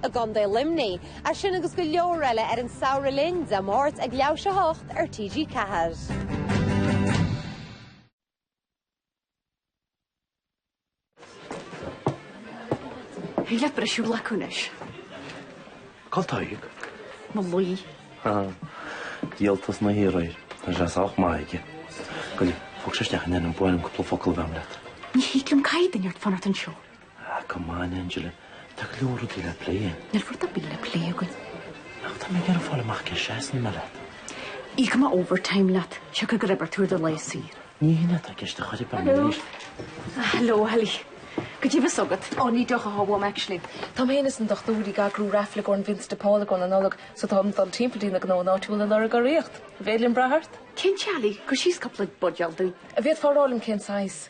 i gContae Luimnigh, é sin agus go leor eile ar An Samhradh Linn, Dé Máirt ag leathuair tar éis 8 ar TG4. Bhí leath briseadh la acu anois. Cá taoidh? Mo luí. Ha. Díoltas na hiarraidh. Tá sé sách maith aige. Go le, Angela, ba mhaith liom cúpla focal a bheith leat. Ní thig liom caint, tá Dermot ag fanacht anseo. Ah, come on, Angela, tá go leor rudaí le plé againn. Níl rud ar bith le plé againn. Ach tá mé ag iarraidh fáil amach cá seasann mé leat. Íocfaidh mé overtime leat, siocair gur oibir tú ar do lae saor. Ní hé ná tá ceist a chur ag bun arís. Ah, hello, Ellie. Go dtí bhfios agat. Oh, ní deoch atá uaim, actually. Tá mé fhéin is an dochtúir Ó hEithir ag eagrú raifle don Vincent de Paul i gcomhair na Nollag, so táim ag dul timpeall go dtí na gnónna áitiúla ag lorg urraíocht. An féidir liom brath ort? Cinnte, Ellie, cuir síos cúpla buidéal dúinn. An bhféadfá a rá liom cén saghas?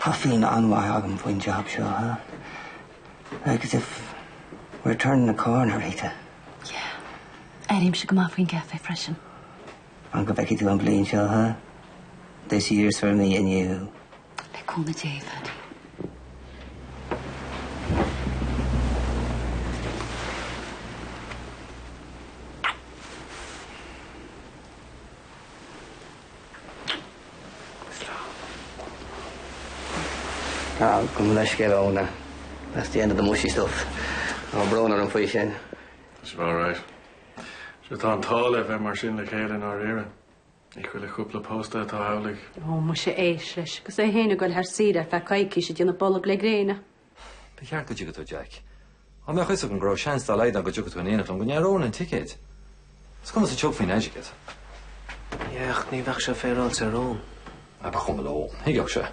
Tá feeling an-mhaith agam faoin job seo, ha? Like as if we're turning a corner, Rita. Yeah. Airímse go maith faoin gcaife freisin. Fan go bhfeicfidh tú an bhliain seo, ha? This year's for me and you. Le cúnamh Dé, Phaddy. Gabh mo leithscéal, Úna. That's the end of the mushy stuff. Tá brón orm faoi sin. It's alright. Sure tá an t-ádh libh a bheith mar sin le chéile i ndáiríre. Ní chuile chúpla pósta atá amhlaidh. Ó, muise, éist leis. Agus é fhéin ag dul thar saoire ar feadh coicís ag déanamh bolg le gréine. Ba cheart go dtiocfadh tú, Jack. Dá mbeadh a fhios agam go raibh seans dá laghad ann go dtiocfadh tú in éineacht liom cheannóinn an ticéad? Is cinnte go dtiocfainn, a Jack? Yeah, ach ní bheadh sé féaráilte ar Eoin. Ah, ba chuma le Eoin. Thuigfeadh sé.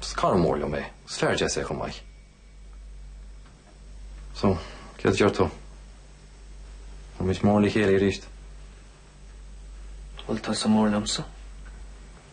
Is cara mór liom é. Is fear deas é chomh maith. So, céard a deir tú? An bhfuil muid mór le chéile arís. Bhuel, tá sé mór liomsa.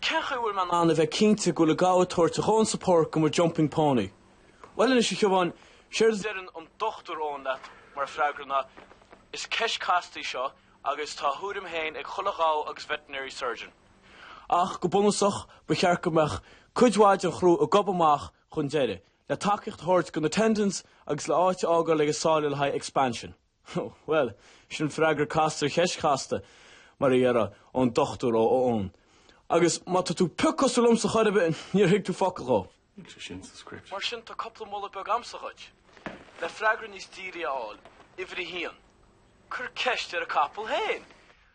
Cén chaoi a bhfuil mé in ann a bheith cinnte go bhfuil a gabha ag tabhairt a dhóthain support do mo jumping pony? Bhuel anois, a Shiobháin, séard a deireann an Dr. Eoin mar freagra ná, Is ceist casta í seo agus tá a thuairim féin ag chuile ghabha agus veterinary surgeon. Ach go bunúsach, ba cheart go mbeadh cuid mhaith den chrú ag gobadh amach chun deiridh, le tacaíocht a thabhairt do na tendons agus le áit a fhágáil ag na sála le haghaidh expansion. Bhuel, sin freagra casta ar cheist chasta, mar a déarfadh an Dr. Eoin. Agus má tá tú pioc cosúil liomsa chor ar bith, níor thuig tú focal dhó. Níl sé sin sa script. Mar sin, tá cupla moladh beag a'msa dhuit, le freagra níos fearr a fháil. Uimhir a haon, cuir ceist ar an gcapall fhéin!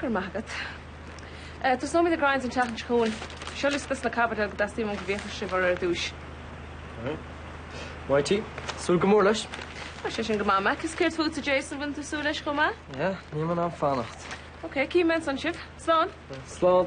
Go raibh maith agat. Eh, tosnóimid ag rince an tseachtain seo chugainn. Seo liosta des na caibidil go dteastaíonn uainn go bhféachfaidh sibh orthu ar dtúis. Maith thú. Súil go mór leis. Tá sé sin go maith, Mac. Is céard fútsa, Jason, bhfuileann tú ag súil leis chomh maith? Yeah, níl mé in ann fanacht. Ok, cífead ansan sibh. Slán. Slán.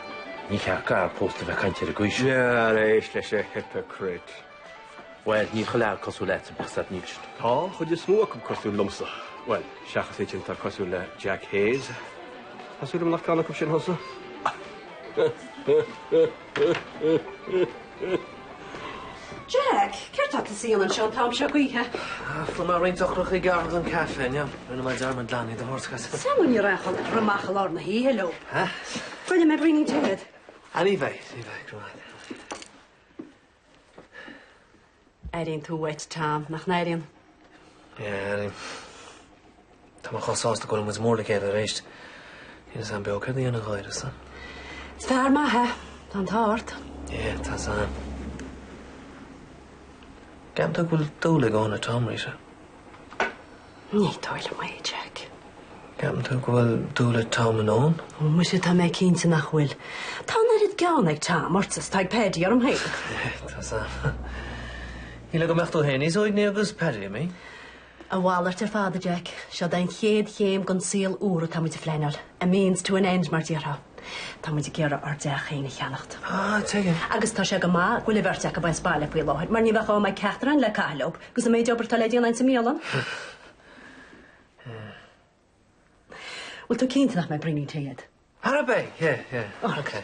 Ní cheart d'fhear pósta a bheith ag caint ar an gcaoi sin. Tar éis leis a hypocrite. Bhuel, níl chuile fhear cosúil leatsa, bíodh a fhios agat é sin. Tá an chuid is mó acu cosúil liomsa. Bhuel, seachas an dream atá cosúil le Mack Hayes. Tá súil agam nach ceann acu sin thusa. Jack, céard tá tusa a dhéanamh anseo an t-am seo d'oíche? Fuair mé roinnt eochracha i ngar don an caife inniu. Rinne mé dearmad glan iad a thabhairt chugat. Sea, níor ghá dhuit a theacht amach i lár na hoíche leo. Ha? An ndéanfaidh mé braoinín tae dhuit. Ah, ní bheidh, ní bheidh. Go raibh maith agat. Airíonn tú uait, Tom, nach n-airíonn? Yeah, airím. Tá mé chomh sásta go bhfuil muid mór le chéile arís. Níl a fhios agam beo céard a dhéanfainn gan eisean. Is fear maith é. Tá an t-ádh ort. Yeah, tá a fhios agam. Ceapann tú go bhfuil dúil agam i dTom arís. Ní dóigh liom é, Jack. Ceapann tú go bhfuil dúil ag Tom ionam? Ó, muise, tá mé cinnte nach bhfuil. Tá an oiread gean ag Tom ort is atá ag Paidí orm féin. Tá a fhios agam. Shíl mé go mbeadh tú féin níos uaigní agus Paidí imithe. A mhalairt ar fad, a Jack. Seo é an chéad chéim den saol úr atá muid a phleanáil. A means to an end, mar déarfá. Tá muid ag iarraidh ár dteach féin a cheannacht. Ah, tuigim. Agus tá sé go maith go bhfuil an bheirt acu as baile faoi láthair, mar ní bheadh am ag ceachtar againn le caitheamh leo, agus an méid obair atá le déanamh sa mbialann. Bhfuil tú cinnte nach mbeidh braoinín tae agat? Ar bith? Yeah, yeah. Oh, OK.